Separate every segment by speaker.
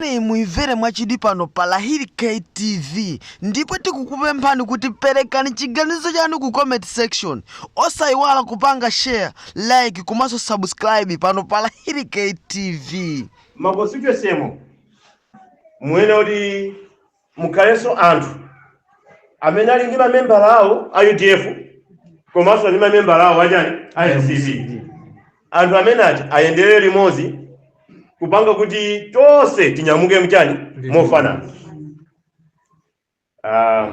Speaker 1: Nkhaniyi muimvere mwachidwi pano pa Lahiri K TV ndipo tikukupemphani kuti perekani chiganizo chanu ku comment section. Osaiwala kupanga share, like komanso subscribe pano pa Lahiri K TV. Ma constituency
Speaker 2: mo muyenera kuti mukhalenso anthu amene ali ndi mamembala awo a udf komanso ndi mamembala awo achani a mcp anthu amene ati ayendere limodzi kupanga kuti tonse tinyamuke mchani mofanana Ah,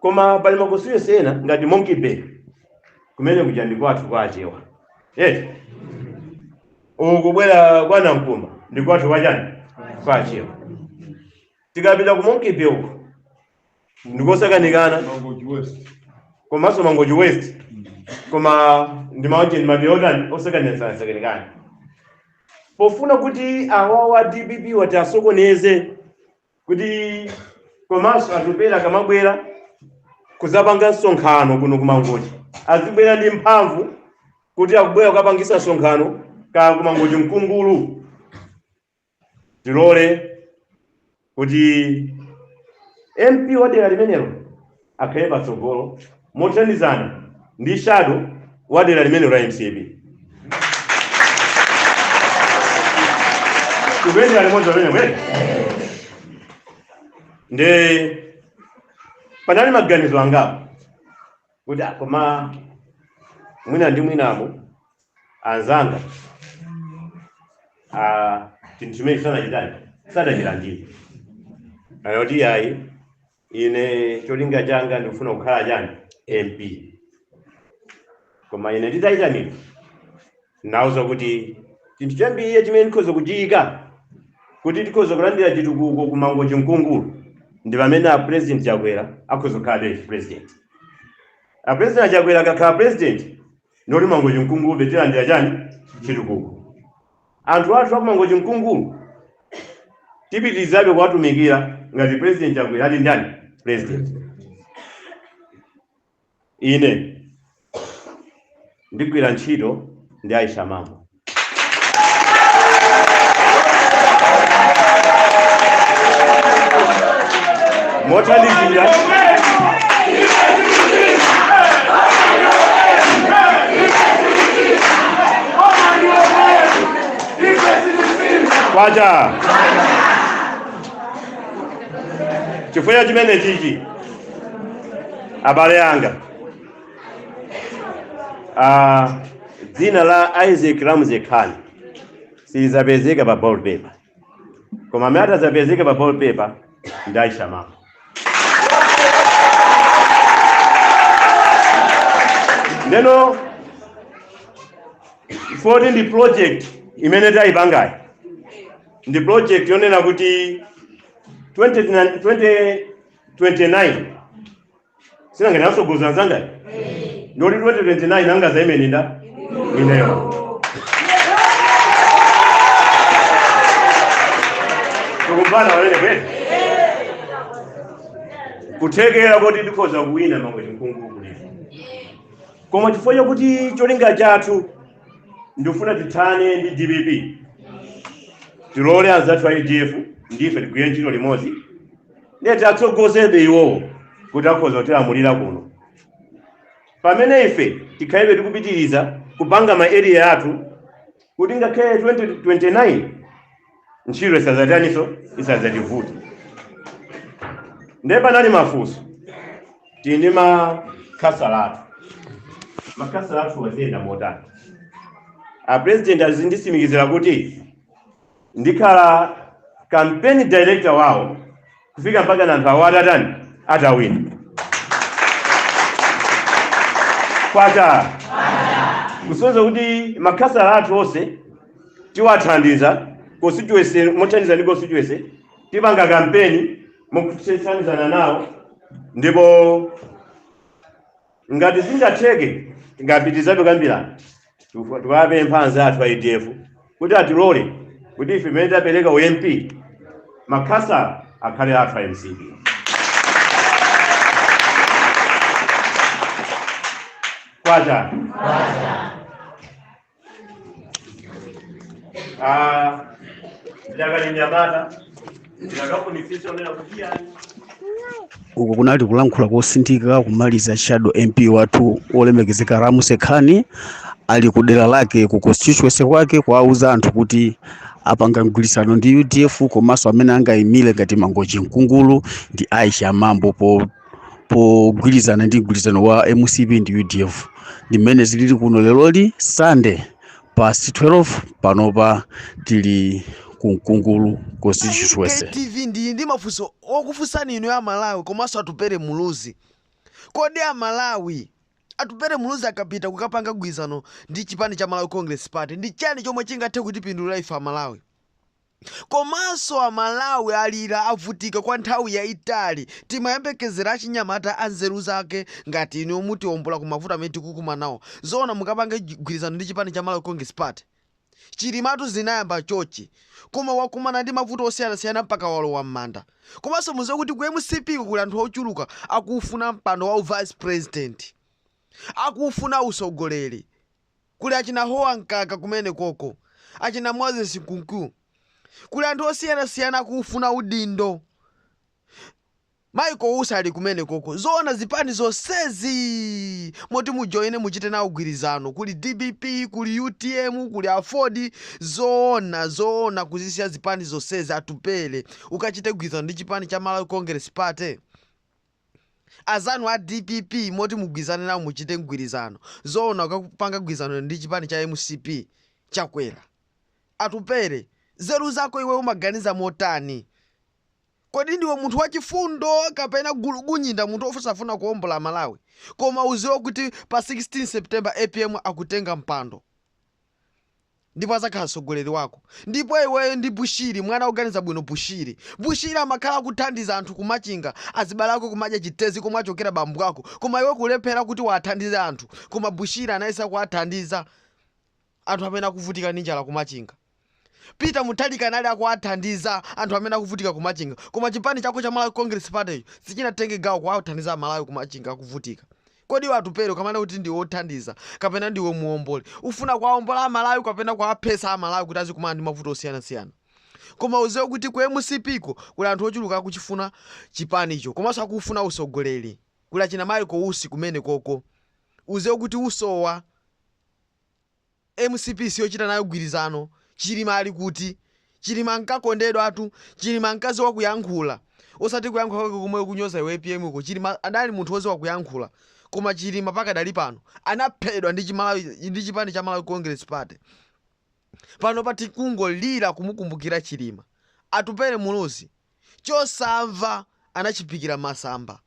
Speaker 2: koma pali makonstituency ena ngati monkey bay kumene kuja ndi kwathu kwa achewa eti uku kubwera kwa nankumba ndi kwathu kwa chani kwa achewa tikapita ku monkey bay uko ndikosakanikana komanso mangochi west koma ndi maoche ndi mapiri otani osakanikanasakanikana pofuna kuti awawa dpp ati asokoneze kuti komanso Atupele akamabwera kudzapanga msonkhano kuno kumangochi azibwera ndi mphamvu kuti akubwera kukapangisa msonkhano ka kumangochi nkungulu tilole kuti mp wa dera limenelo akhale patsogolo mothandizana ndi shadow wa dera limenelo la mcp tikuyendera limodzi amene mwene nde panali maganizo angapo kuti ah, koma mwina ndi mwinamo anzanga ah, chinthu chimene sadachitani sadachilandire anati ayi ine cholinga changa ndikufuna kukhala chani mp koma ine nditayitanidwa nauza kuti chinthu chambiri chimene ndikhoza kuchiyika kuti tikhoza kulandira chitukuko ku mangochi nkungulu ndi pamene a president chakwera akhoza kukhala eeh president a president chakwera akakhala president ndoti mangochi nkungulu betilandira chani chitukuko Anthu athu aku Mangochi Nkungulu tipitilizabe kuwatumikira ngati president chakwera ali ndani president ine ndigwira ntchito ndi Aisha Mambo mothandizira kwacha chifukwa chimene chichi abale anga ah, dzina la isaac ramuse khan silizapezeka pa ballot paper koma amene atadzapezeke pa ballot paper ndi aisha mambo ndeno foti ndi project imene tayipangayi ndi project yonena kuti 2029 sinanga tatsogoza anzangawa ndoti 2029 ingadzaime ndi ineyo tikumva anene kuti kuthekera kuti tikhoza kuwina mangochi mkungulu kulipo koma chifukwa chakuti cholinga chathu ndikufuna tithane ndi dpp tilole anzathu a udf ndife tigwire ntchito limodzi ndiye tiatsogozebe iwowo kuti akhoza kutilamulira kuno pamene ife tikhalebe tikupitiriza kupanga ma area athu kuti ngakhale 2029 ntchito isadzataniso isadzativuta ndiye panali mafunso tili ndi makhansala athu makhansala athuwa ziyenda motani a president anditsimikizira kuti ndikhala campaign director wawo kufika mpakana anthu awo atatani atawina kwacha kusonyeza kuti makhansala athu onse tiwathandiza constituency mothandiza ndi constituency tipanga kampeni motsatizana nawo ndipo Ngati zingatheke, tingapitirizabe kukambirana. Tiku- Tikuwapempha anzathu a udf kuti atilole kuti ife pamene tapereka u MP makhansala akhale athu a mcp. Kwacha. Ah, ndakali nyamata ndikufunitsitsa kunena kuti yani
Speaker 3: uku kunali kulankhula kotsindika kumaliza shadow mp wathu olemekezeka ramuse khani ali ku dera lake ku constituency kwake kuwauza anthu kuti apanga mgwirizano ndi udf komanso amene angayimire ngati mangochi mkungulu ndi aisha mambo po pogwirizana ndi mgwirizano wa mcp ndi udf ndi mmene zilili kuno leroli sunday past 12 panopa tili ku mkungulu constituency TV ndili ndi
Speaker 1: mafunso okufunsani inu a Malawi komanso atupere muluzi kodi a Malawi atupere muluzi akapita kukapanga gwizano ndi chipani cha Malawi Congress Party ndi chani chomwe chingathe kutipindulira ife a Malawi Komanso a Malawi alira avutika kwa nthawi yaitali timayembekezera achinyamata anzeru zake ngati inuyo mutiombola ku mavuto amene tikukumanawo. Zoona mukapange mgwirizano ndi chipani cha Malawi Congress Party? Chilimatu anayamba chochi koma wakumana ndi mavuto osiyanasiyana mpaka walowa mmanda. Komanso muziwe kuti ku mcp ko kuli anthu ochuluka akufuna mpando wa u vice president. Akufuna usogoleri. Kuli achina Eisenhower Mkaka kumene koko, achina Moses Kunkuyu. Kuli anthu osiyana siyana akuufuna udindo. Michael Usi ali kumene koko. Zoona zipani zonsezi moti mujoine muchite nawo gwirizano. Kuli dpp, kuli utm, kuli aford. Zoona, zoona kuzisiya zipani zonsezi Atupele ukachite gwirizano ndi chipani cha Malawi Congress Party? azanu a dpp moti mugwizane nawo muchite mgwirizano zoona ukapanga gwizano ndi chipani cha mcp chakwera atupere zeru zako iwe umaganiza motani kodi ndiwe munthu wachifundo kapena gulugunyinda munthu osafuna kuombola malawi koma uziwe kuti pa 16 september apm akutenga mpando ndipo adzakhala mtsogoleri wako ndipo iweyo ndi bushiri mwana oganiza bwino bushiri bushiri amakhala akuthandiza anthu kumachinga azibale ako kumadya chitezi komwe achokera bambo ako koma iwe kulephera kuti uwathandize anthu koma bushiri anayesa kuwathandiza anthu amene akuvutika ndi njala kumachinga peter mutharika anali akuwathandiza anthu amene akuvutika kumachinga koma chipani chako cha malawi congress party sichinatenge gawo kuwathandiza amalawi kumachinga akuvutika Kodi iwe Atupele ukamanena kuti ndiwe othandiza kapena ndiwe muwomboli ufuna kuwaombola a Malawi kapena kuwaphetsa a Malawi kuti azikumana ndi mavuto osiyana siyana? Koma udziwe kuti ku mcp ko kuli anthu ochuluka akuchifuna chipani cho komanso akufuna utsogoleri. Kuli achina Michael Usi kumene koko. Udziwe kuti usowa. Mcp siyochita nayo gwirizano, Chilima ali kuti? Chilima ankakondedwatu, Chilima ankaziwa kuyankhula, osati kuyankhula kwako komwe ukunyoza iwe apm ko, Chilima adali munthu oziwa kuyankhula, koma Chilima pakadali pano anaphedwa ndi chipani cha Malawi Congress Party. Panopa tikungolira kumukumbukira Chilima. Atupele Muluzi, chosamva anachiphikira mmasamba.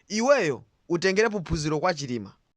Speaker 1: Iweyo utengerepo phunziro kwa Chilima.